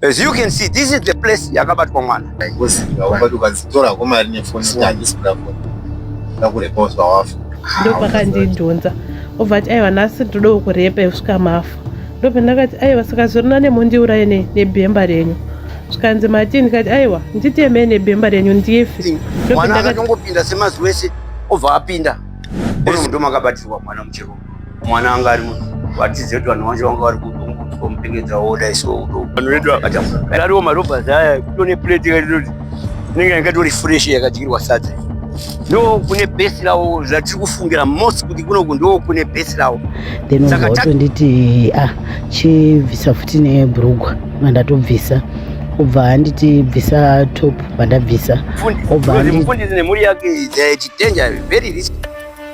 As you can see, this is the place yakabatwa mwana. Ndopakandindunza obva ati aiwa nhasi ndodawo kurepa yekusvika mafa ndobva ndakati aiwa saka zvirina nemundiuraye nebhemba renyu zvikanzi mati ndikati aiwa nditemei nebhemba renyu ndife mwana akatongopinda semazuva ese obva apinda uri mudomakabatirwa mwana muchirume Mwana wanga ari vatize kuti vanhu vanje vanga vari kutongotswa mupengedza wodai so vanhu vedu vakatadariwo marobha zaya kutone plate yaitoti inenge yangatori fresh yakadyirwa sadza ndo kune base lawo zvatiri kufungira most kuti kunoku ndo kune base lawo then watonditi ah chibvisa futi nebrugwa mandatobvisa obva anditi bvisa top pandabvisa obva anditi nemhuri yake chitenja very risky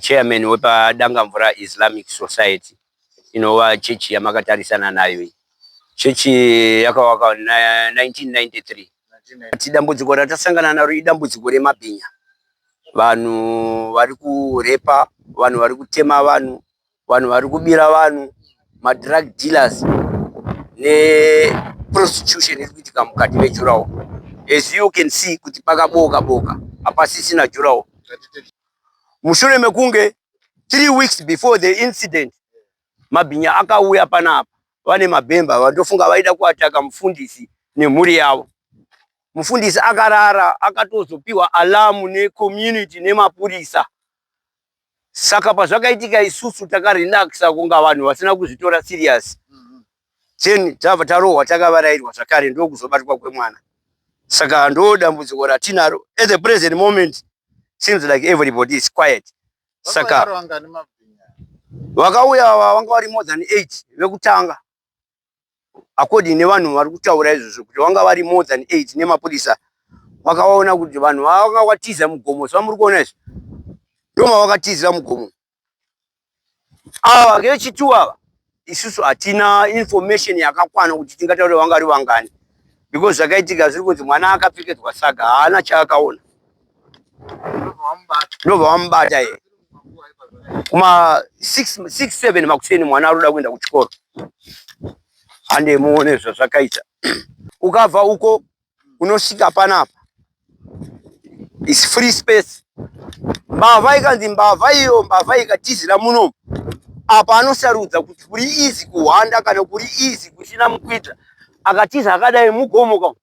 Chairman wepa Dangamvura Islamic Society inova chechi yamakatarisana nayo iyi. Chechi yakavakwa na 1993. Kuti dambudziko ratasangana naro idambudziko remabhinya. Vanhu vari kurepa, vanhu vari kutema vanhu, Vanhu vari kubira vanhu madrug dealers neprostitution iri kuitika mukati mejurawo as you can see kuti pakabooka booka hapasisina jurawo mushure mekunge three weeks before the incident mabhinya akauya panapa vane mabhemba vandofunga vaida kuataka mufundisi nemhuri yavo mufundisi akarara akatozopiwa alamu necommunity nemapurisa saka pazvakaitika isusu takarelaxa kunga vanhu vasina kuzvitora serious mm-hmm. then tava tarohwa takavarairwa zvakare ndokuzobatwa kwemwana saka ndo dambudziko ratinaro at the present moment seems like everybody is quiet saka vakauya vanga vari more than eight vekutanga according nevanhu vari kutaura izvozvo kuti vanga vari more than eight nemapurisa vakaona kuti vanhu vanga vatiza mugomo zvamuri kuona izvi ndoma vakatizira mugomo ava vechitu ava isusu hatina information yakakwana kuti tingataure vanga vari vangani because zvakaitika zviri kunzi mwana akapfekedzwa saga haana chaakaona ndobva vamubata iye kuma 67 makuseni mwana aruda kuenda kuchikoro hande muone zvazvakaita ukabva uko unosvika panapa is free space mbavha ikanzi mbavha iyo mbavha ikatizira muno apa anosarudza kuti kuri izi kuhwanda kana kuri izi kusina mukwidza akatiza akadai mugomo ka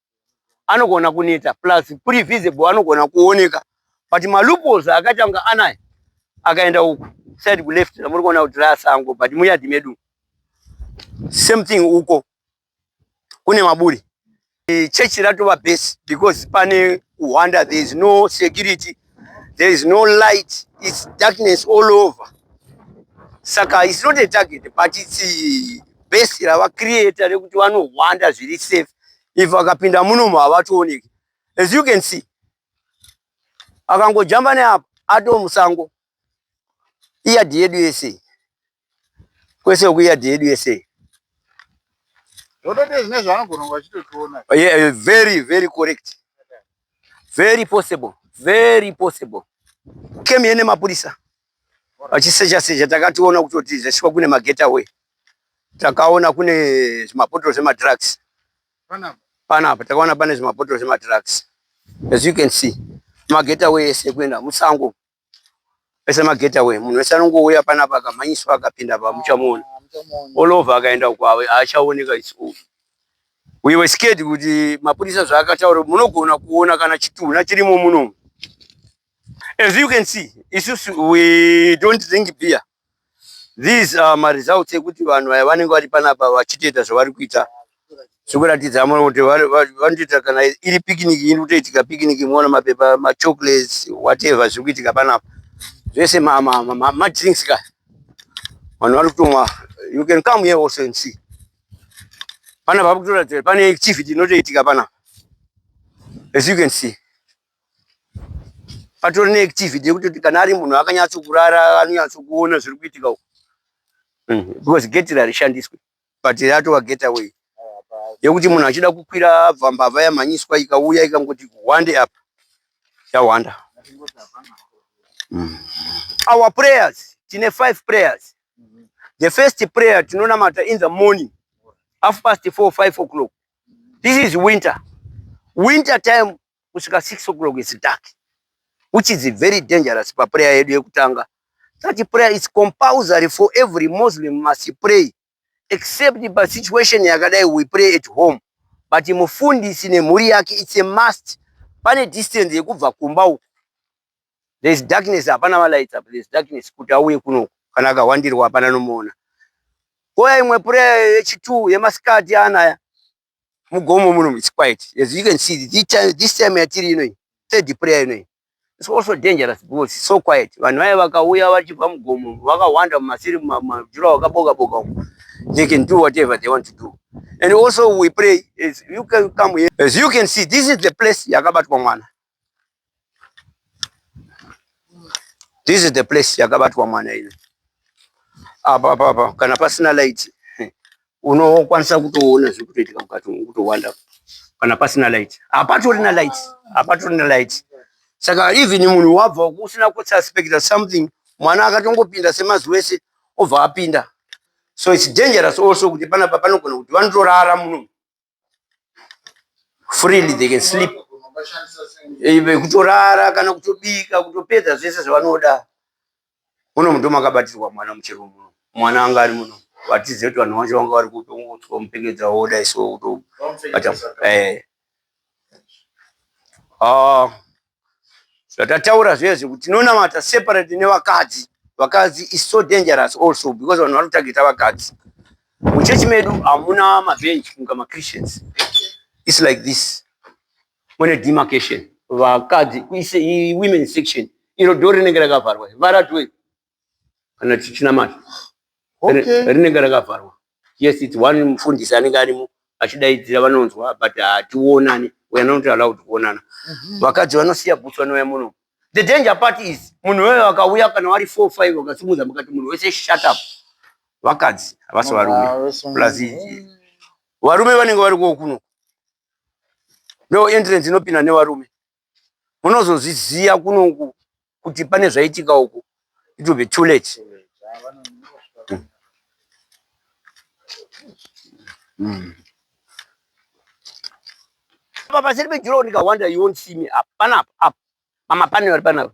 anogona kuneta plus kuri visible anogona kuoneka but malupos akaita kunga anaya akaenda uku side kuleft ramuri kuona kuti rasango but muyadhi medu same thing uko kune maburi e, chechi ratova base because pane uhwanda there is no security there is no light its darkness all over saka its not a target but its base ravacreator rekuti vanohwanda zviri safe if akapinda munomu havatooneki as you can see akangojamba neapo ato musango iyadhi yedu yese kwese uku iyadhi yedu yese very very correct very possible very possible came here nemapurisa vachisecha secha takationa kutoti zvasvikwa kune magetaway takaona kune zvimabhotoro zvemadrugs panapa takaona pane zvimabhotoro zvemadrugs as you can see magetaway ese kuenda musango ese magetaway munhu wese anongouya panapa akamhanyiswa akapinda pa muchamuona ah, all over akaenda uko haachaoneka its over we were scared kuti mapurisa zvaakataura munogona kuona kana chitunha chirimo munomu As you can see, isusu we don't drink beer. These are my results ekuti vanhu aya vanenge vari panapa vachitoita zvavari kuita zvekuratidza amwe kuti vanotoita kana iri picnic iri kutoitika picnic muona mapepa machocolates whatever zviri kuitika panapa zvese madrinks ka vanhu vari kutomwa you can come here also and see panapa vari kutoratidza pane activity inotoitika panapa as you can see patori neactivity yekutoti kana ari munhu akanyatsokurara anonyatsokuona zviri kuitika uku mm, because gate rarishandiswe but ratova gate away yekuti munhu achida kukwira abva mbavha yamhanyiswa ikauya ikangoti hwande apa yahwanda mm. our prayers tine five prayers the first prayer tinonamata in the morning half past four five o'clock this is winter winter time kusvika 6 o'clock is dark which is very dangerous paprayer yedu yekutanga such prayer is compulsory for every muslim must pray except pa situation yakadai we pray at home but mufundisi nemhuri yake it's a must pane distance yekubva kumba uku there is darkness hapana malights apa there is darkness kuti auye kuno kana akawandirwa hapana nomuona koya imwe prayer yechitu yemasikati anaya mugomo muno it's quiet as you can see this time, this time yatiri inoyi third prayer inoyi it's also dangerous because it's so quiet vanhu vaye vakauya vachibva mugomo vakawanda mumasiri mumajura wakaboka boka umo they can do whatever they want to do and also we pray as you can come here as you can see this is the place yakabatwa mwana This is the place yakabatwa mwana ino. Apa apa apa kana pasina light unokwanisa kutoona zviri kutoitika mukati umu kutowanda kana pasina light. Hapatorina light, hapatorina light. Saka even munhu wabva usina kususpecta something mwana akatongopinda semazuva ese obva apinda. So it's dangerous also kuti panapa panogona kuti vanotorara muno freely they can sleep eh, kutorara kana kutobika kutopedza zvese zvavanoda muno mundo makabatirwa mwana muchero muno mwana anga ari muno vatizive kuti vanhu vacho vanga vari kupi ungotswa mupengedza woda iso kutobata eh. ah. Zvatataura zvezve kuti tinonamata separate nevakadzi. Vakadzi is so dangerous also because vanhu vanotageta vakadzi. Muchechi medu hamuna mabench kunga maChristians. It's like this. Mune demarcation. Vakadzi kuise women section. Iro door rinenge rakavharwa. Vara door. kana tichinamata okay. rinenge rakavharwa yes it's one mufundisi anenge arimo achidaidzira vanonzwa but hationani we are not allowed kuonana mhm. vakadzi mm -hmm. vanosiya bhutsu vanouya muno the danger part is munhu weyo akauya kana wari four five wakasimudza mukati munhu wese shut up vakadzi havasi varume plus varume vanenge vari kokuno no entrance inopinda nevarume munozozviziva kunoku kuti pane zvaitika uku it will be too late mm. apa paseri pejurawo ndikahwanda you won't see me apa panapa apa mamapanera panapa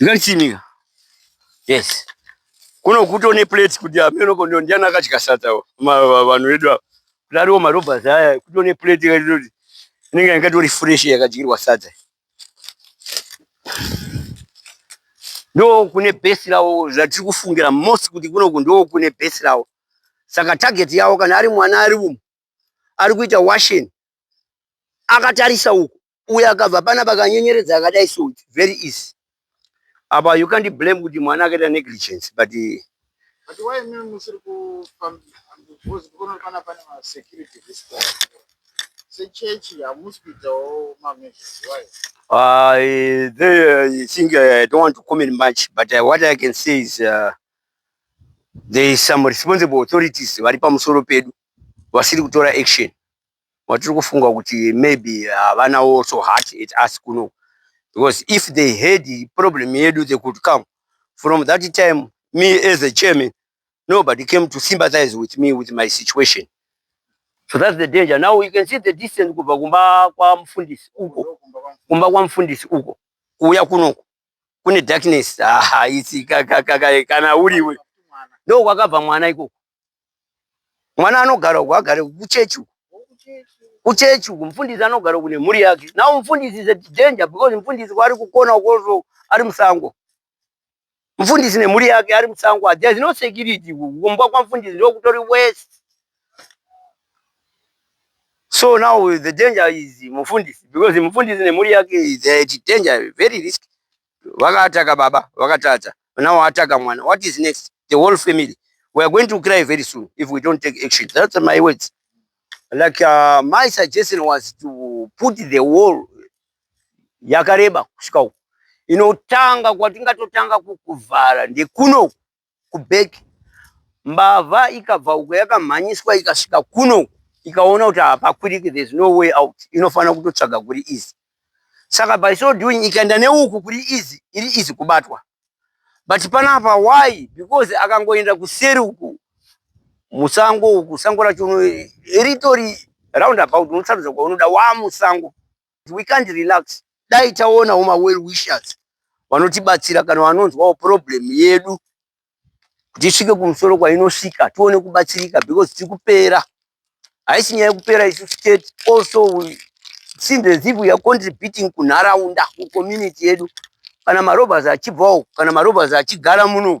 Ndikarichinika. Yes. Kuno kuto ne plates kuti ameno kondo ndiana akatya sata vanhu vedu ava. Kudariwo marobha zaya kuto ne plate ka kuti inenge yakatori fresh yakadyirwa sata. Ndo kune base rawo zvatiri kufungira most kuti kuno kundo kune base rawo. Saka target yawo kana ari mwana ari umu ari kuita washing akatarisa uku uyo akabva pana pakanyenyeredza akadai so it's very easy apa you can't blame kuti mwana akaita negligence but eh, But why me musiri kufamba because kuno kana pane ma security risk sechechi hamusi kuitawo mameasures why uh, eh, they, uh, think uh, I don't want to comment much but uh, what I can say is uh, there is some responsible authorities vari pamusoro pedu vasiri kutora action watiri kufunga kuti maybe havanawo also heart at us kuno because if they had problem yedu they could come from that time me as a chairman nobody came to sympathize with me with my situation so that's the danger now you can see the distance kubva kumba kwamufundisi uko kumba kwamufundisi uko kuuya kunoko kune darkness ah, it's, ka, ka, ka, ka, kana uriwe ndokwakabva mwana ikoko mwana anogara uku agare kuchechi uku kuchechi uku mufundisi anogara uku nemhuri yake now mufundisi is a danger because mufundisi kwaari kukona ukoso ari musango mufundisi nemhuri yake ari musango there's no security uku kumba kwamufundisi ndokutori west so now the danger is mufundisi because mufundisi nemhuri yake is a danger very risky Vakataka baba, vakatadza. Now ataka mwana. What is next? The whole family. We are going to cry very soon if we don't take action. That's my words. Like uh, my suggestion was to put the wall yakareba kusvika uku. Inotanga kwatingatotanga kukuvhara ndekuno kubag mbavha ikabva uko yakamhanyiswa ikasvika kuno ikaona kuti hapakwiriki there's no way out inofanira kutotsvaga kuri easy saka by so doing ikaenda neuku kuri easy iri easy kubatwa but panapa why because akangoenda kuseri uku musango uku sango racho ritori round about unosarudza kwaunoda wamusango we can't relax dai taonawo ma well wishers vanotibatsira kana vanonzwawo problem yedu kuti isvike kumusoro kwainosvika tione kubatsirika because tiri kupera haisi nyaya yekupera isu state also we seems as if we are contributing kunharaunda kucommunity yedu kana marobhers achibvawo kana marobhers achigara muno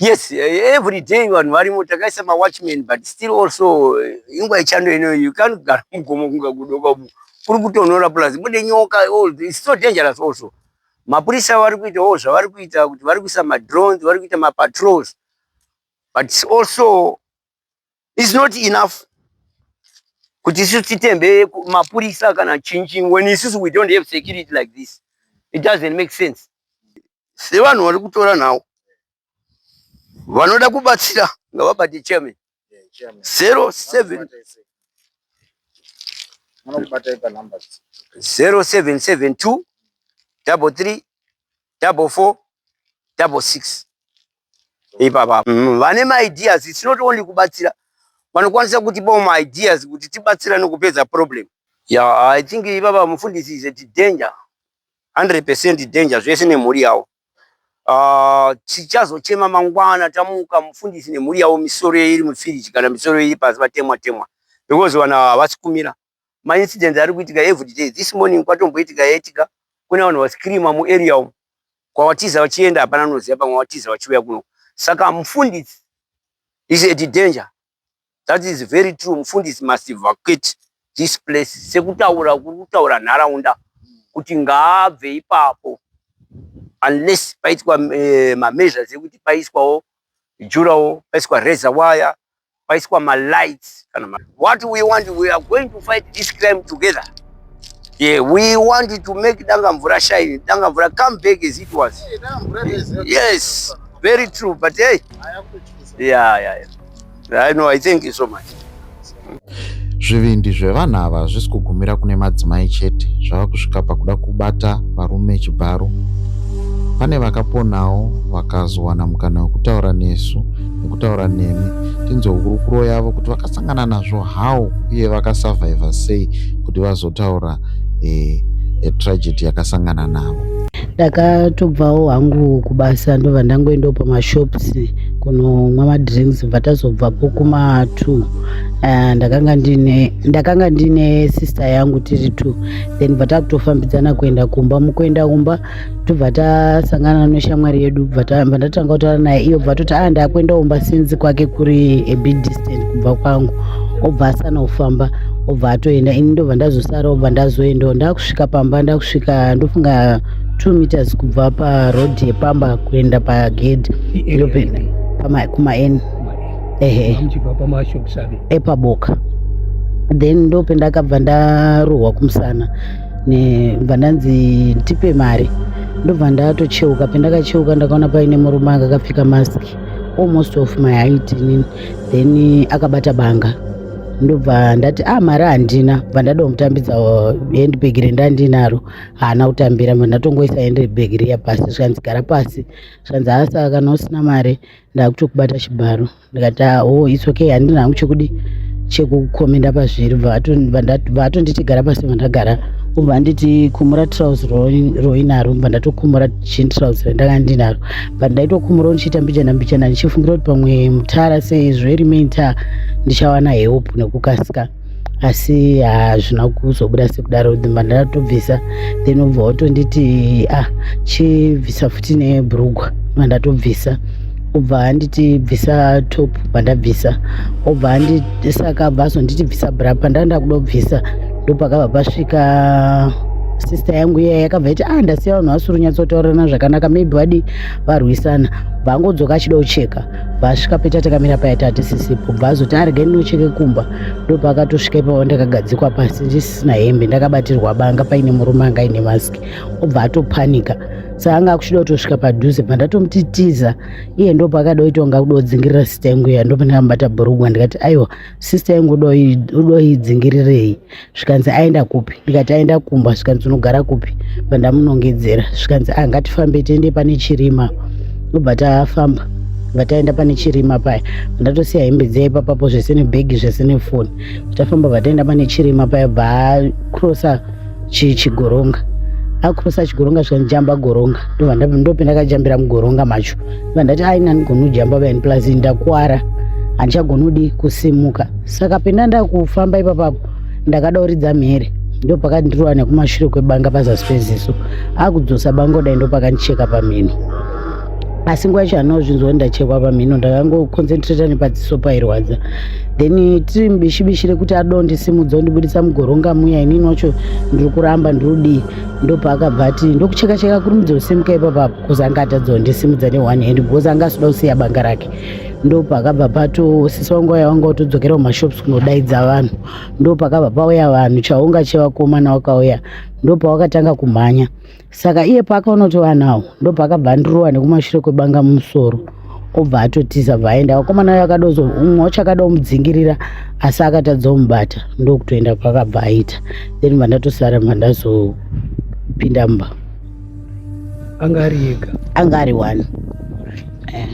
Yes, eh, every day vanhu varimo takaisa ma watchman but still also eh, ingwa ichando ino you can't gara mugomo kunga kudoka umu kuri kutonhora plus mune nyoka all this it's so dangerous also mapurisa vari kuitawo zvavari kuita kuti vari kuisa ma drones vari kuita ma patrols but also is not enough kuti isu titembe mapurisa kana chinchi when isusu we don't have security like this it doesn't make sense sevanhu vari kutora nhau vanoda kubatsira ngavabate chairman zero seven zero seven seven two double three double four double six ipapa mm, vane maideas it's not only kubatsira vanokwanisa kuti bo maideas kuti tibatsira nokupedza problem yeah i think ipapa mufundisi is a danger 100% danger zvese nemhuri yavo ah, tichazochema uh, mangwana tamuka mufundisi nemhuri yavo misoro iri mufiriji kana misoro iri pasi vatemwa temwa because vana havasi kumira ma incidents ari kuitika everyday this morning kwatomboitika yaitika kune vanhu vascreama muarea umu kwawatiza vachienda hapana noziva pamwe watiza vachiuya kuno saka mufundisi is at danger that is very true mufundisi must evacuate this place sekutaura kuri kutaura nharaunda kuti ngaabve ipapo unless paitwa eh, mameasures ekuti paiswawo jurawo paiswa reza waya paiswa ma lights kana ma what we want we are going to fight this crime together yeah we want to make danga mvura shine danga mvura come back as it was yes very true but hey yeah yeah yeah i know i thank you so much Zvivindi zvevanhu ava hazvisi kugumira kune madzimai chete, zvava kusvika pakuda kubata varume chibharo. Pane vakaponawo vakazowana mukana wekutaura nesu nekutaura nemi tinzwe hurukuro yavo kuti vakasangana nazvo how uye vakasavhaivha sei kuti vazotaura eh, eh, tragedy yakasangana navo. ndakatobvawo hangu kubasa ndobva ndangoendawo pamashops kunomwa madrinks bva tazobvapo kuma two uh, ndakanga ndine ndakanga ndine sister yangu tiri two then bva takutofambidzana kuenda kumba mukuenda kumba tobva tasangana neshamwari yedu bva ndatanga kutaura naye iyo bva toti ah ndakuenda kumba sinzi kwake kuri a bit distant kubva kwangu obva asana kufamba obva atoenda ini ndobva ndazosara obva ndazoendawo ndakusvika pamba ndakusvika ndofunga two meters kubva paroad yepamba kuenda pagedhi kumaeni ehe muchibva pamashop save epaboka then ndope ndakabva ndarohwa kumusana ndobva ndanzi ndipe mari ndobva ndatocheuka pendakacheuka ndakaona paine murume akakapfeka mask almost of my height nini then akabata banga ndobva ndati a ah, mari handina bva ndadomutambidza uh, handbag rendandinaro haana kutambira bva ndatongoisa handbag riya pasi zvikanzi gara pasi zvikanzi hasa kana usina mari ndakutokubata chibharo ndikati ah, o oh, its okay handina hangu chekuti chekukomenda pazviri vatonditi gara pasi vandagara ubva anditi kumura trouse roinaro ubva ndatokumura jean trouse randanga ndinaro but ndaitokumura ndichiita mbichana mbichana ndichifungira kuti pamwe mutara sezvo iri main tar ndichawana help nekukasika asi hazvina ah, kuzobuda sekudaro dzimba ndatobvisa then ubva watonditi ah chibvisa futi nebrugwa mandatobvisa ubva anditi bvisa top pandabvisa ubva anditi saka abva azonditi bvisa bra pandanda kuda kubvisa ndopakabva pasvika sister yangu iya yakabva iti ah ndasiya vanhu vasiri kunyatsotaurana zvakanaka maybe vadi varwisana bva angodzoka achida kucheka paasvika peta takamira paya tatisisipo bva azoti arege ndinocheke kumba ndopaakatosvika ipavo ndakagadzikwa pasi ndisisina hembe ndakabatirwa banga paine murume anga aine maski obva atopanika saanga akuchida kutosvika padhuze pandatomutitiza iye ndo paakada kuita kunga kuda kudzingirira sista yangu iya ndopandakambata bhurugwa ndikati aiwa sista yangu udoidzingirirei zvikanzi aenda kupi ndikati aenda kumba zvikanzi unogara kupi pandamunongedzera zvikanzi ah ngatifambe tiende pane chirima obva tafamba vataenda pane chirima paya ndatosiya hembe dziya ipapapo zvese nebhegi zvese nefoni tafamba vataenda pane chirima paya bva akrosa chigoronga akrosa chigoronga zvikanzi jamba goronga ndopendakajambira mugoronga macho iva ndati aina anigona ujamba vani plus ndakuwara handichagona udi kusimuka saka penda ndakufamba ipapapo ndakada uridza mhere ndo pakandirova nekumashure kwebanga pazasi peziso akudzosa bango dai ndo pakandicheka pamhino asi nguva yacho handina kuzvinzwa ndachekwa pamhino ndakangoconcentrata nepadziso pairwadza then tiri mubishibishi rekuti adonde simudza ndibudisa mugoronga muya inini wacho ndiri kuramba ndiri kudii ndopaakabva ati ndokuchekacheka kuri mudzi usimuka ipapapo because anga atadza kundisimudza ne-one hand because anga asida kusiya banga rake ndopakabva pato sisi wangu waya wanga utodzokera kumashops kunodaidza vanhu ndopakabva pauya vanhu chaunga chevakomana wakauya ndopawakatanga kumhanya saka iye paakaona kuti vanhu awo ndopakabva andirowa nekumashure kwebanga mumusoro obva atotiza bva aenda vakomana uyo akadozo umwe wacho akada kumudzingirira asi akatadza kumubata ndokutoenda kwakabva aita then vandatosara vandazopinda mumba anga ari ega anga ari one eh.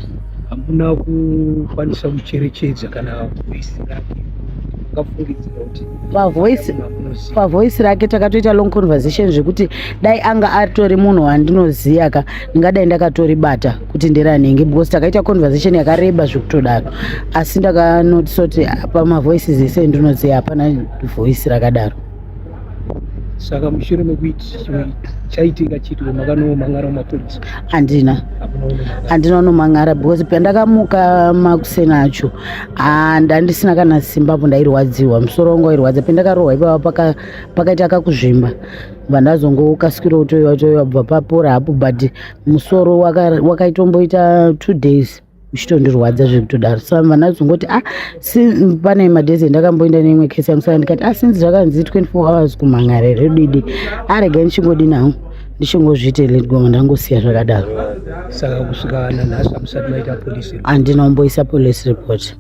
hamuna kukwanisa kucherechedza kana voisi rake akafungidzira kuti pavoisi pavoisi rake takatoita long conversation zvekuti dai anga atori munhu wandinoziva ka ndingadai ndakatoribata kuti nderanenge because takaita conversation yakareba zvekutodaro asi ndakanotisoti pamavoices ese ndinoziva hapana voisi rakadaro saka mushure mekuiti chaitika chiti makanomangara mapurisa handina handina unomangara because pandakamuka makuseni acho ah, ndandisina kana simba apo ndairwadziwa musoro wangu wairwadza pandakarohwa ipava pakaita kakuzvimba vandazongokasikira utoiwa toiwa bva papora hapo but musoro wakaitomboita two days zvichitondirwadza zviri kutodaro sa vana vazongoti a ah, si pane madhezi endakamboenda neimwe kesi yangu saka ndikati a ah, sinzi zvakanzi 24 hours kumhan'ara here didi arega ndichingodi nawo ndichingozviite ledgoma ndangosiya zvakadaro saka kusvika nanhasi hamusati maita polisi handina umboisa police report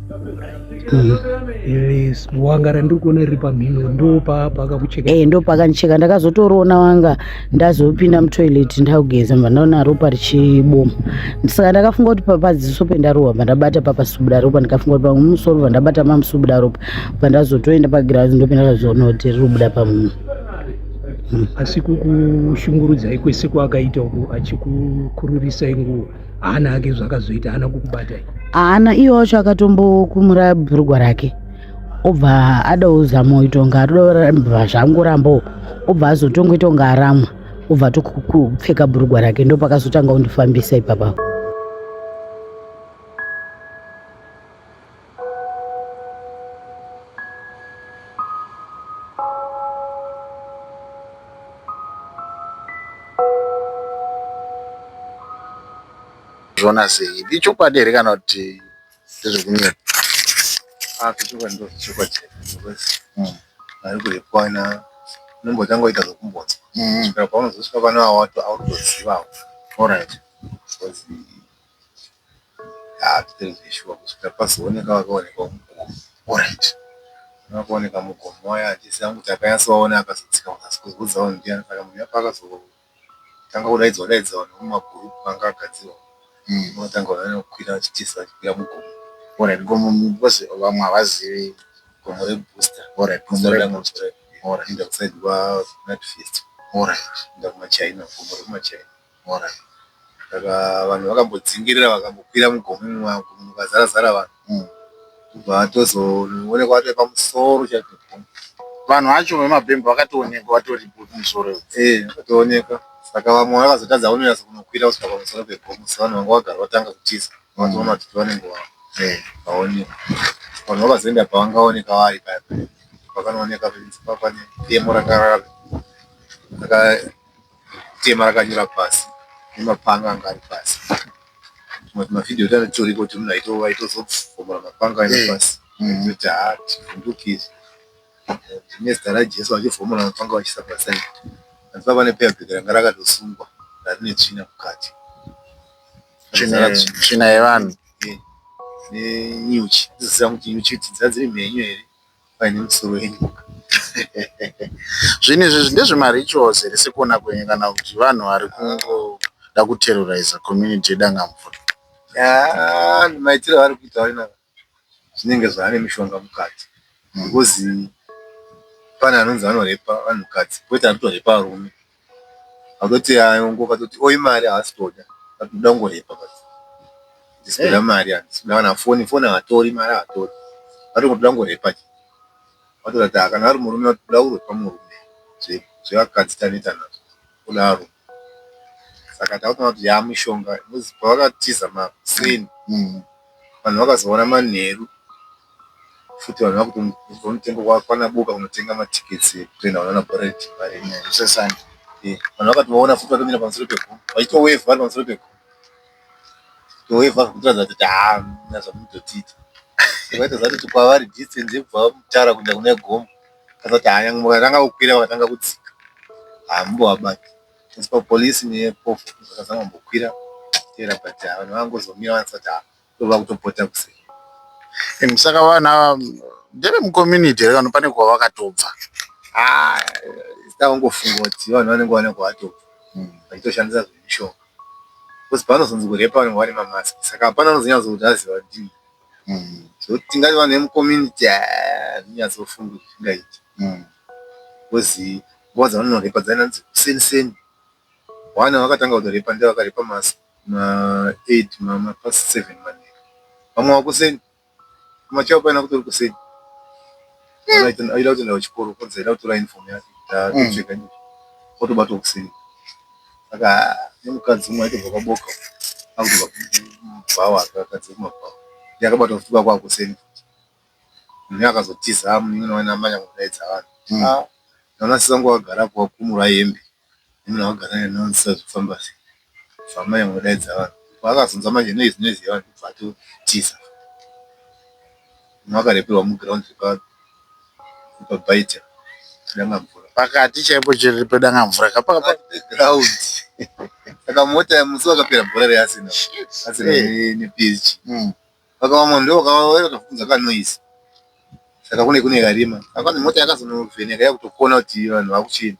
Mm. Yes, wanga randiri kuona riri pamhino ndopapa akakucheka. Eh, ndopakanicheka ndakazotoroona wanga ndazopinda mutoilet ndakugeza mva ndaona ropa richiboma. Saka ndakafunga kuti papadziso pendarohwa mva ndabata papasubuda ropa ndikafunga kuti pamwe musoro mva ndabata mamusubuda ropa mva ndazotoenda pagirazi ndopinda ndakazoona kuti riri kubuda pamunhu. Mm. Asi kukushungurudzai kwese kwaakaita uku achikukururisai nguva. haana hake zvakazoita haana kukubata haana iye wacho akatombokumura bhurugwa rake obva adawo zamo itonga atoramba zvangorambawo obva azotonga itonga aramwa obva tokupfeka bhurugwa rake ndopakazotanga kundifambisa ipapa zvoona sei ichokwadi here kana kuti ndezvekunyepa zvechokwadi ndo zvechokwadi ari kurepwana unombotanga oita zvokumbonzwa kusvika paunozosvika pane wawato autozivawo orit Haa zvitori zveshuwa kusvika pazooneka wakaonekwa mugomo alright kune vakaoneka mugomo vaya handisi hangu kuti akanyatsovaona akazodzika kunyaso kuzivhunza vanhu ndiyani kana munhu apakazotanga kudaidzwa daidza vanhu vemumagroup anga agadzirwa unotanga vanhu vanokwira vachitiza vachikwira mugomo alright gomo because vamwe havazivi gomo rebooster alright gomo rebooster alright inda kusaid kwaNatfest alright inda kumachaina gomo rekumachaina Mhora iyi saka vanhu vakambodzingirira vakambokwira mugomo imomo mukazara zara vanhu imomo kubva vatozoonekwa vatove pamusoro chaipo pegomo. Vanhu vacho vemabhemba vakatoonekwa vatoripo kumusoro iyo. Ehe vakatoonekwa saka vamwe vakazotadza kunonyatsa kunokwira kusvika pamusoro pegomo so vanhu vanga vagara vatanga kutiza vakazoona kuti tova nenguva vaonekwa. Vanhu vakazoenda pavangaoneka vari paya paya pakanooneka pemora ranga raka. tema rakanyura pasi nemapanga anga ari pasi tumwe tumavideo tanga titoriko kuti munhu aitozobvomora mapanga aenda eh. pasi kuti haa tivhunduke izvi nezita rajesu vachivhomora mapanga vachiisa pasi aii hanzi pava nepeabheki ranga rakatosungwa rarine tsvina mukati tsvina yevanhu eh, nenyuchi dziziva kuti nyuchi dzadziri mhenyu here Vaine misoro yenyoka zvinhu izvi ndezve ma rituals here sekuona kwenyu kana kuti vanhu vari kungoda ku terroriser community ye Dangamvura. Yaa maitiro avari kuita wena zvinenge zvaane mishonga mukati because pane anonzi anorepa vanhukadzi poita ari kutorepa varume. Akatoti haa hongu akatoti oo imari haasi kutoda akati ndoda kungorepa akati handisi kuda mari handisi kuda kana foni foni haatori mari haatori akati ndoda kungorepa chete akatoona kuti haa kana ari murume akati kuda kurepa murume zve zvevakadzi taneta nazvo kudaro saka takutoona kuti yaa mushonga because pavakatiza makuseni vanhu vakazoona manheru futi vanhu vakutonzwa mutengo kwana boka kunotenga matickets ekutrainer vanhu vana Boret vari zvese Sunday eh vanhu vakatovaona futi vatomira pamusoro pegomo vachito wave vari pamusoro pegomo to wave kutoratidza kuti haa muna zvamunototiita vaitoziva kuti kwavari distance yekubva mutara kuenda kune gomo kasa kuti haa nyangwe vakatanga kukwira vakatanga kudzika haa mumbovabata asi papolice nepofu vakazama kumbokwira tera but haa vanhu vangozomira vanasati haa Tova kutopota kuse. Imi saka vanhu ava ndeve mucommunity here kana pane kwavakatobva? Ah, takangofunga kuti vanhu vanenge vane kwavatobva hmm, vachitoshandisa zvemishonga because pavanozonzi kurepa vanenge vane mamask saka hapana anozonyatso kuti aziva kuti so hmm, tingati vanhu vemucommunity ah, zvinyatsofunga kuti zvingaiti hmm, because nguva dzavanonorepa dzainanzi kuseni seni vana vakatanga kutorepa ndevakarepa mask Ma eight mama past seven manheru. Vamwe wakuseni. Kumachao paina kutori kuseni. Aida aida kutoenda kuchikoro kwanzi aida kutora uniform yake kuti atopfeka mm. Otobatwa kuseni. Saka nemukadzi umwe aitobva kwaboka. Akutobva kumabhawa akakadzi kumabhawa. Ndiye akabatwa futi kwakwa kuseni. Mune akazotiza mune waina manya kudaidza vanhu. Mm. Ah, naona sisa ngwagara kwa kumura hembe. Hamuna kugara ne nonsense kufamba sei fambai modaidza vanhu paakazonzwa manje noise noise yevanhu obva atotiza makareperwa mu ground repa repa bite Dangamvura pakati chaipo pe Dangamvura ka pakati pe ground saka mota musi wakapera bhora re Arsenal Arsenal ne PSG Saka vamwe ndivo vakauya vakafukidza kanoise saka kune kune karima apa mota yakazonovheneka yakutokona kuti vanhu vakuchii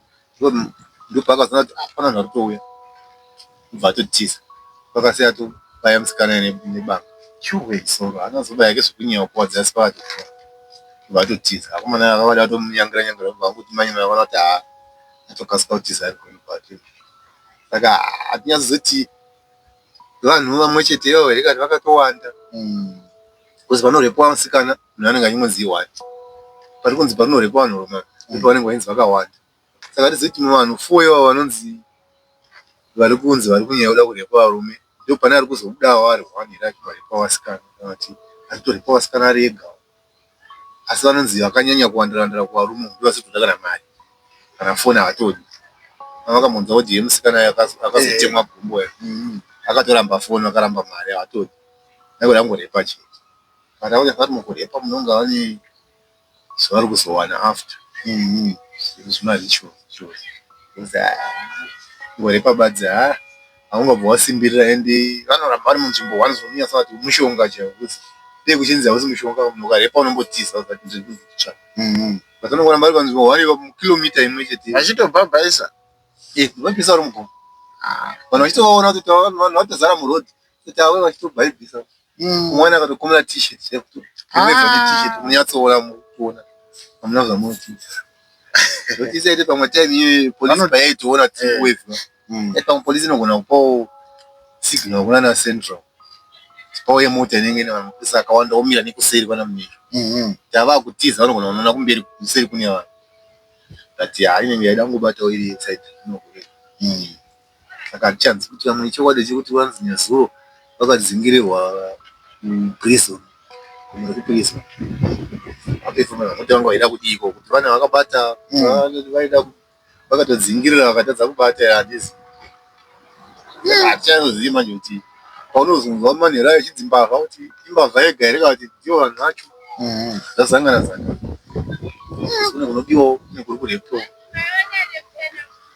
ndopaakazoona kuti ah, pana vanhu vari kutouya kubva atotiza pakasiya atobaya musikana nebanga chuwe soro haana kuzobaya ke zvekunyewa kwadzi asi paatokuwa kubva atotiza akomana akavada atomunyangira nyangira kubva anguti manye mavona kuti haa atokasika kutiza ari kuno kwati saka hatinyazozoti vanhu vamwe chete ivo here kani vakatowanda mm. because panorepwa musikana munhu anenge achingonzi one pari kunzi panorepwa vanhu roma ndipo mm. vanenge vainzi vakawanda saka tizoiti vanhu four ivo vanonzi vari kunzi vari kunyaya kuda kurepa varume ndipo pane ari kuzobudawo ari one here achitorepwa vasikana kana kuti achitorepwa vasikana ari ega asi vanonzi vakanyanya kuwandira wandira kuvarume umu ndovasikutoda kana mari kana foni havatodi vakamunzwa kuti yemusikana akazotemwa gumbo ya akatoramba foni vakaramba mari havatodi vaikuda kungorepa chete but akuti vari mukurepa munonga vane zvavari kuzowana after zvinhu zvimazvichose ngorepa badzi haa. haungabve wasimbirira and vanoramba vari munzvimbo one zvinonyanya sewati mushonga chaiwo coz dei kuchinzi hausi mushonga munhu ukarepa unombotiza kuti ndiri kunzi itsva but vanongoramba vari panzvimbo one ipapo mukilometer imwe chete vachitobhabhaisa eh vanopisa vari mugomo vanhu vachitovaona kuti vanhu vatozara muroad kuti avo vachitobhaibhisa Mm. Umwana akatokumira t-shirt chaiyo kuti remedza ah. t-shirt munyatsoona mukuona hamuna zvamunotiza zvotiza ite pamwe time iyoyo polisi payaitoona kuti eh. wave mm. eh, pamwe polisi inogona kupawo signal kuna na central tipawo yemota inenge ine vanopisa akawanda omira nekuseri kwana mumiro mm-hmm. tava kutiza vanogona kunoona kumberi kuseri kune vanhu but haa inenge yaida kungobatawo iri inside inokureka mm. Saka hatichanzwi kuti vamwe ichokwadi here kuti vanzi nezuro vakadzingirirwa kuprison kumwe kuprison vaperfoma kuti vanga vaida kudiiko kuti vana vakabata vaida vakatodzingirira vakatadza kubata hatizi hatichazii manje kuti paunozonzwa manhero ayo chidzi mbavha kuti imbavha yega here kati ndiwo vanhu vacho zvazangana zanga kune kunodiwawo nekuri kurepwa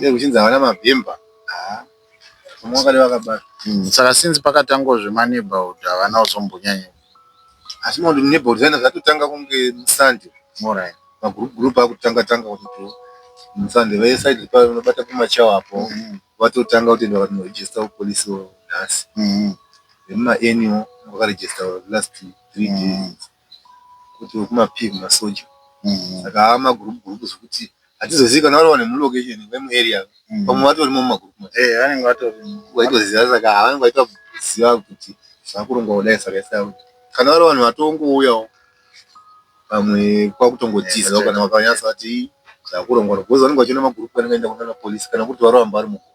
Dai kuchinzi havana mabhemba haa vamwe vakade vakabata. Mm, saka since pakatangwa zvema neighborhood havana kuzombonyanya. Asi makuti neighborhood zvaenda zvatotanga kunge musande morai magroup group akutanga tanga kuti musande vaye side pa vanobata pamachawa apo mm -hmm. vatotanga kutoenda vati no register police nhasi. Mm -hmm. Vemuma annual vakaregister last 3 mm -hmm. days. Kuti wekuma peer masoja saka ava ma group group zvekuti hatizozivi kana vari one mu location vemu area vamwe vatorimo muma group macho ehe vanenge vatorimo vaitoziva saka vanenge vachitoziva kuti zvakurongwa kudai saka its like kana vari vanhu vatongouyawo pamwe kwakutongotizawo kana vakanyatsa vati zvakurongwa coz vanenge vachiona ma group anenge achienda kunana police kana kuri kuti varamba vari mu group.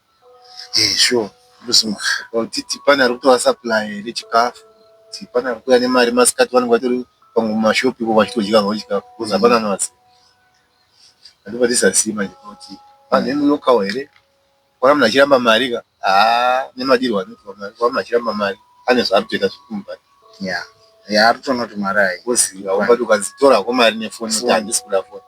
Ehe sure kuti pane ari kutova supply here chikafu kuti pane ari kuuya nemari masikati vanenge vatori pamwe mumashop ivo vachitodya havo chikafu coz hapana anovaziva. Ndobva ndisaziva manje kuti vanhu vemu local here kuona munhu achiramba mari ka haa nemadirwo anoitwa mari kuona munhu achiramba mari ane zvaari kutoita zviri kumubata. Yeah yeah ari kutoona kuti mari haipo coz ukaona kuti ukanzi tora hako mari nefoni woti handisi kuda foni.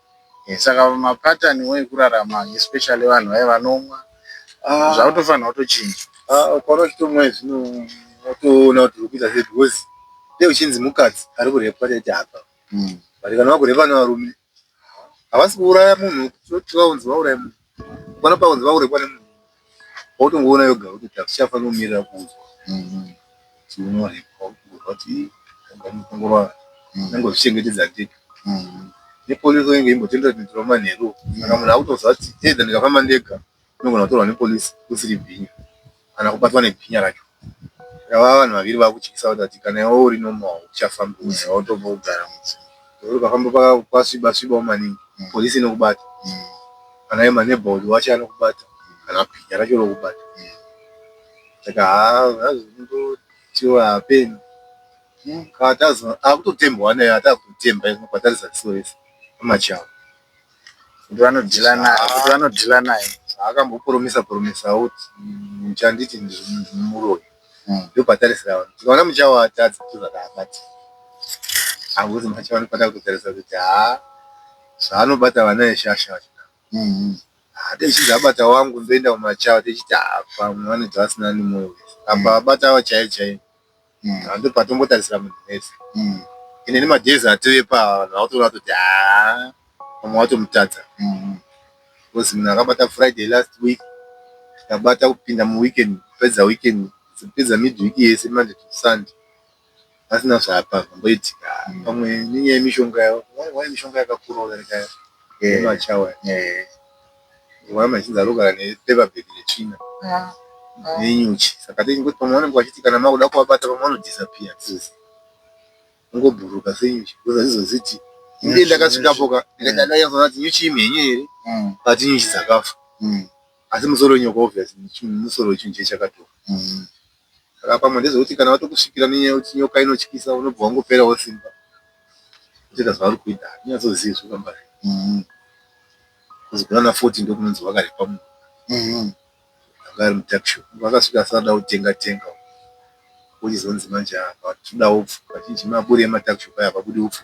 Saka ma pattern wo ekurarama especially vanhu vaye vanomwa zvakutofanirwa kutochinja. Haa ukaona uchitomwa izvi unotoona kuti uri kuita sei because dai uchinzi mukadzi ari kurepwa taiti hapa but kana vakurepwa nevarume havasi kuuraya munhu kuti vaunzi vauraye munhu. Pano paunzi vaurekwa nemunhu wautongoona yoga kuti takuchafa nomirira kuudzwa mm-hmm. kuti unorekwa kuudzwa kuti agamukongorwa mm-hmm. nange uchichengetedza ndeke mm-hmm. nepolisi inenge imbotendera tendera manheru kana munhu akutoziva kuti either ndikafamba ndega inogona kutorwa nepolisi usiri bhinya kana kubatwa nebhinya racho ava vanhu vaviri vakutyisa kuti kana iwe uri normal hauchafambi musha wautobva wogara musha nekuti ukafamba kwasviba svibawo maningi police inokubata kana iye maneighborhood wacho anokubata kana bhinya racho rokubata saka haa hazvo unongotiwo hapeni akutotembwa ane atakutotemba kwatarisa ziso rese pamachawa. kuti vanodhila naye kuti vanodhila naye zvaakambopromisa promisawo kuti muchanditi ndiri muroyi ndopatarisira vanhu tikaona muchavatadza tozvakaabati akuti macho vanofanira kutotarisa kuti haa zvaanobata vana veshasha vacho hatechiti abata wangu ndoenda kumachava techiti haa pamwe vanoti vasina nemoyo apa abata avo chaiye chaiye mm. vanhu ndobva vatombotarisira munhu wese mm. ende nemadays atove pava vanhu vakutoona kutoti haa vamwe vatomutadza mm. bcause munhu akabata friday last week akabata kupinda muweekend kupedza weekend kupedza midweek yese monday to sunday asina zvapa amboitika mm. pamwe nenyaya yemishonga yavo wai mishonga yakakura udarika yemachawa yeah. yeah. Mhamha achinzi arogara nepaper bag retsvina nenyuchi saka hatizivi kuti pamwe vanenge vachiti kana makuda kuvabata pamwe vano disappear hatizivi vongobhururuka senyuchi because hatizozivi kuti ndini ndakasvikapo ka ndakanyatsoona kuti nyuchi imhenyu here kana kuti inyuchi dzakafa asi musoro wenyoko obviously musoro wechinhu chiye chakatofa Saka pamwe ndezvekuti kana vatokusvikira nenyaya yekuti nyoka inotyisa unobva wangoperawo simba kutoita zvauri kuita handinyatsozivi zvekamba izvi bcoz kunana 40 ndokunonzi wakarepa munhu anga ari mutuckshop vakasvika asati ada kutenga tenga uku wochizonzi manje haa but todawo upfu kazhinji maburi ematuckshop aya hapabudi upfu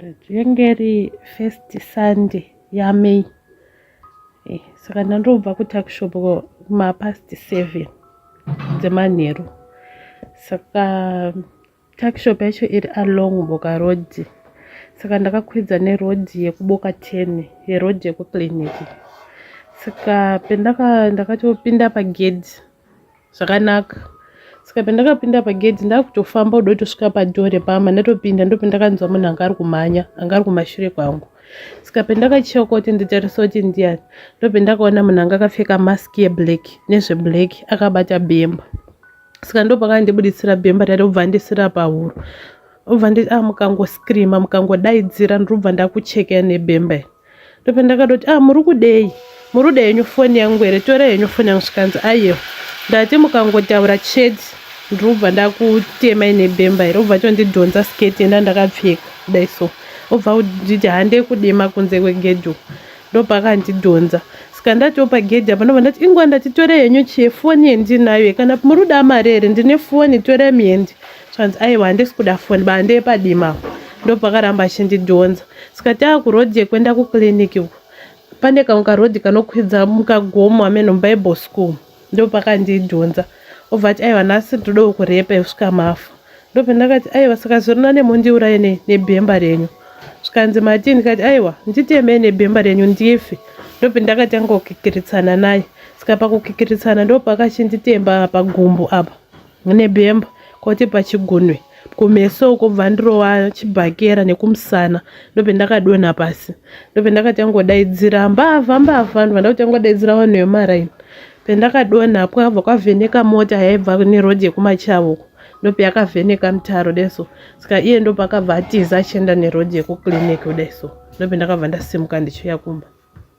Rinenge ri first Sunday yaMay. Eh, saka ndandobva kutuckshop kumapast seven dzemanheru. Saka tuckshop yacho iri along Boka Road. Saka ndakakwidza neroad yekuBoka ten, yeroad yekuclinic. Saka pendaka ndakatopinda pagedhi. zvakanaka saka pandakapinda pagedhi ndakutofamba kuda kutosvika padoor repama ndatopinda ndopi ndakanzwa munhu anga ari kumhanya anga ari kumashure kwangu saka pandakacheka kuti nditarisa kuti ndiyani ndopi ndakaona munhu anga akapfeka mask yeblack nezveblack akabata bemba saka ndopakandibuditsira bemba rati obva ndisira pahuro obva nditi a ah, mukangoskirima mukangodaidzira ndirobva ndakuchekea nebemba iri ndopa ndakatoti ah muri kudei muri kuda henyu foni yangu here tora henyu foni yangu zvikanzi ayewa ndati mukangotaura chete ndrobva ndakutema ine bemba here obva tondidhonza sketi enda ndakapfeka kudai so obva nditi hande kudema kunze kwegedho ndopakandidhonza ska ndatopa gedhi apa ndobva ndati ingwa ndatitore henyu chie foni yendinayo kana muri kuda mari here ndine foni tore miendi zvanzi aiwa handisi kuda foni ba ndeepadima ndopakaramba achindidhonza saka tava kurodhi yekuenda kuclinic uko pane kamwe karodhi kanokwidza mukagomo hameno mubible school ndopakandidhonza obva ati aiwa nhasi ndodawo kurepa yekusvika mafa ndopendakati aiwa saka zvorina nemundiuraye nebhemba renyu zvikanzi matini kati aiwa nditemei nebhemba renyu ndife ndopendakatanga kukikiritsana naye saka pakukikiritsana ndopakachinditemba pagumbu apa nebhemba kwoti pachigunwe kumeso uko bva ndirova chibhakera nekumusana ndopendakadonha pasi ndopendakatanga kudaidzira mbavha mbavha ndobva ndakutanga kudaidzira vanhu vemaraini pendakadonha kwabva kwavheneka mota yaibva neroad yekumachavo uko ndopeyakavheneka mutaro kudai so saka iye ndopakabva atiza achienda neroad yekuclinic kudai so ndopendakabva ndasimuka ndichiuya kumba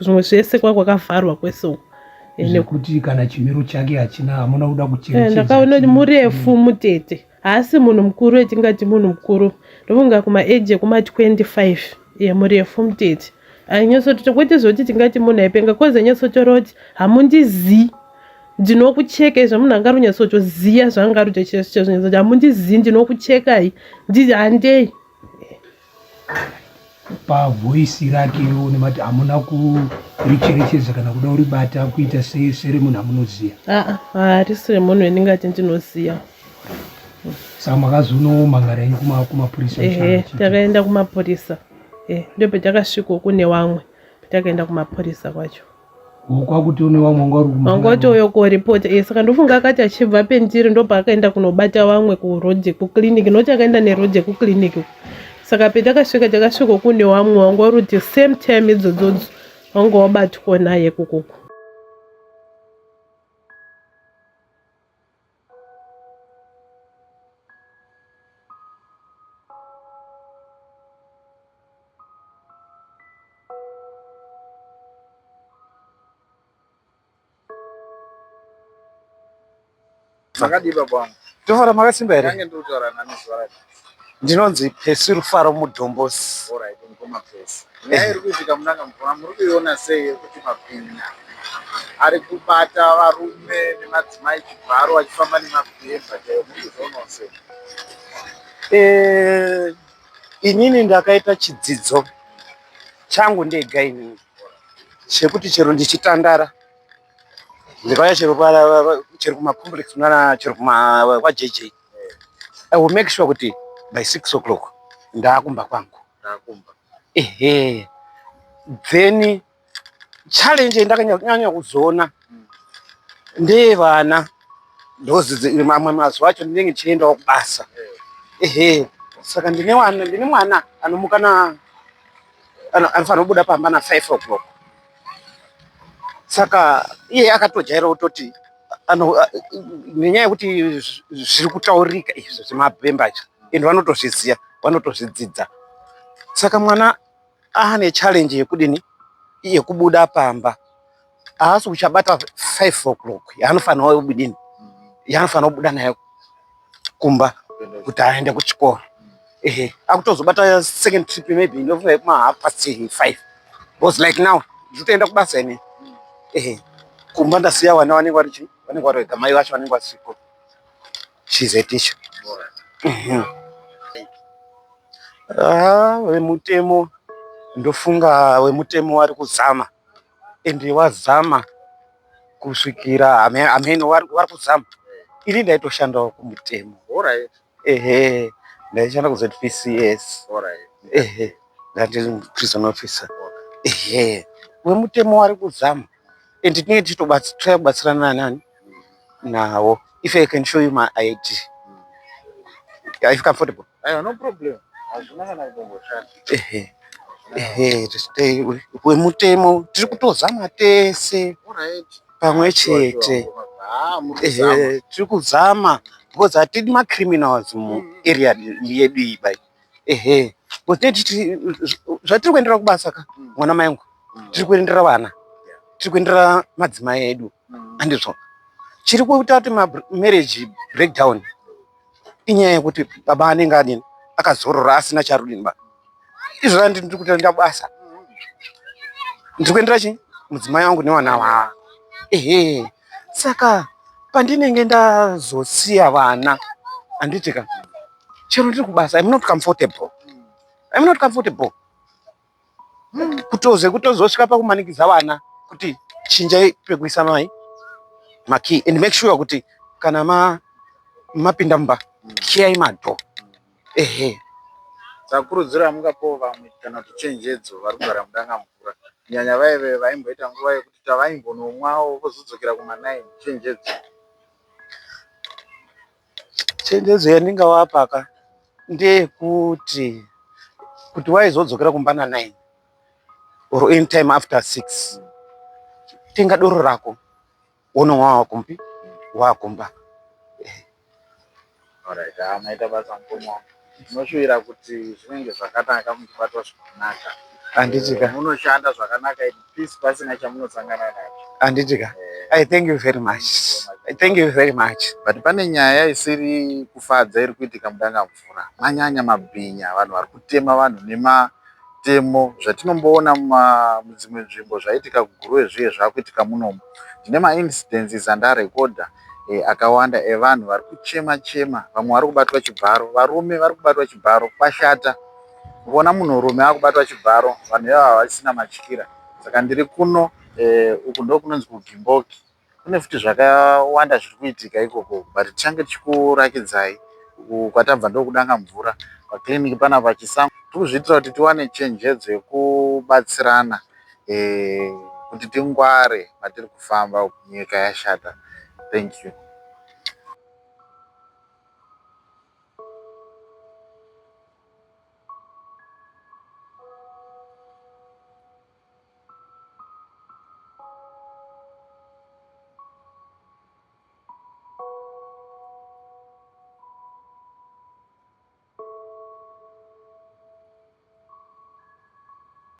zvimwe zvese kwa kwakavharwa kwese uko nekuti kana chimiro chake hachina hamuna kuda kucherechedza eh, ndakaona kuti murefu mutete haasi munhu mukuru etingati munhu mukuru ndofunga kumaeji ekuma 25 ye murefu mutete ainyatsotota kwete zvekuti tingati munhu aipenga kozi ainyatsotora kuti hamundizii ndinokucheka izvo munhu anga runyatsotoziva zvaanga rutochezvinyatso kuti hamundizivi ndinokuchekai handei pavoisi rake une mati hamuna kuricherechedza kana kuda uribata kuita seremunhu amunoziva harisi remunhu endingati ndinoziva saka makazonomhangara ini kumapurisa ehe takaenda kumapurisa e ndopetakasviko kune wamwe petakaenda kumapurisa kwacho kwakuti une vamwe wanga uri kumba wanga watouya kuripota e eh, saka ndofunga akati achibva pendiri ndopaakaenda kunobata vamwe kuroad kuclinic noti akaenda neroad kuclinic saka petakasvika takasvika kune vamwe wanga uri kuti same time idzodzodzo wanga wabatwa naye kukuku Makadiba bwana. Tohora makasimba here? Kange ndotara nani zvarati. ndinonzi Pesi Rufaro Mudombosi. Alright, mukoma Pesi. Nyaya eh. iri kuitika munanga mukoma muri kuiona sei yekuti mabhinya ari kubata varume nemadzimai chibharo vachifamba nemabhemba chaiwo muri kuzvionawo sei? Eh, inini ndakaita chidzidzo changu ndega inini chekuti chero ndichitandara ndikauya chero chero kumacomplex mwana chero kwajeje I will make sure kuti by 6 o'clock ndakumba kwangu. Ndakumba. Ehe. Then challenge yendakanyanya kuzoona mm. ndeye vana ndozi mamwe mazuva acho ndinenge ndichiendawo kubasa. Ehe. Saka ndine wana ndine mwana anomuka na anofanira kubuda pamba na 5 o'clock. saka iye akatojaira kutoti nenyaya yekuti zviri kutaurika izvi zvemabhemba izvi and vanotozviziva vanotozvidzidza saka mwana aane challenge yekudini yekubuda pamba haasi kuchabata five o'clock yaanofanirwa kudini yaanofanirwa kubuda nayo kumba kuti aende kuchikoro ehe akutozobata second trip maybe inofa yekuma half past five because like now ndikutoenda kubasa ine ehe kumba ndasiya vana vanenge vari chii vanenge vari vega mai vacho vanenge vasiko she's a teacher mhm. ah, vemutemo ndofunga vemutemo vari kuzama and wazama kusvikira ameno vari kuzama ini ndaitoshandawo kumutemo ehe ndaishanda kuzvps ehe ndandiri prison officer ehe wemutemo wari kuzama and tinenge tichitobatsira kubatsirana nani nawo if i can show you my id are you comfortable Aiwa no problem. Hazvina kana kutomboshata. Ehe. Ehe, tistay we- wemutemo tiri kutozama tese Alright. pamwe chete. Ah, mutizama. Ehe, tiri kuzama because hatidi macriminals mu Mm. area yedu iyi bai. Ehe. Because teti zvatiri kuendera kubasa ka Mm. mwana mayangu Mm. tiri kuendera vana tiri kuendera madzimai edu Mm. andizvo chiri kuita kuti mamarriage breakdown inyaya yekuti baba anenge adini akazorora asina charudini ba izvona ndiri kutoenda basa ndiri kuendera chii mudzimai wangu nevana vaa ehe saka pandinenge ndazosiya vana handitika chero ndiri kubasa im not comfortable im not comfortable kutoze kutozosvika pakumanikidza vana kuti chinjai pekuisa mai makey and make sure kuti kana ma mapinda mumba kiyai madho ehe sakurudziro yamungapo vamwe kana kuti chenjedzo vari kugara mudanga mvura nyanya vaive vaimboita nguva yekuti tavaimbonomwawo vozodzokera kuma9 chenjedzo Chenjedzo yandingavapa ka ndeyekuti kuti waizodzokera kumba na 9 or any time after 6 tenga doro rako wononwa wakumbi wakumba. Alright, ah, maita basa mukoma wangu. Ndinoshuvira kuti zvinenge zvakanaka muchibatwa zvakanaka. Handiti ka. Munoshanda zvakanaka in peace pasina chamunosangana nacho. Handiti ka. I thank you very much. I thank you very much. But pane nyaya isiri kufadza iri kuitika muDangamvura. Manyanya mabhinya, vanhu vari kutema vanhu nematemo zvatinomboona mudzimwe nzvimbo zvaitika kuGuruve zviye zvakuitika munomu. Ndine maincidents andarecorder akawanda evanhu vari kuchema chema vamwe vari kubatwa chibharo varume vari kubatwa chibharo kwashata kuona munhurume akubatwa chibharo vanhu ivava havasisina matyira saka ndiri kuno eh, uku ndokunonzi kugimboki kune futi zvakawanda zviri kuitika ikoko but tichange tichikurakidzai kwatabva ndokudanga mvura paclinic panapa chisango tiri kuzviitira kuti tiwane chenjedzo yekubatsirana kuti tingware matiri kufamba uku nyika yashata thank you.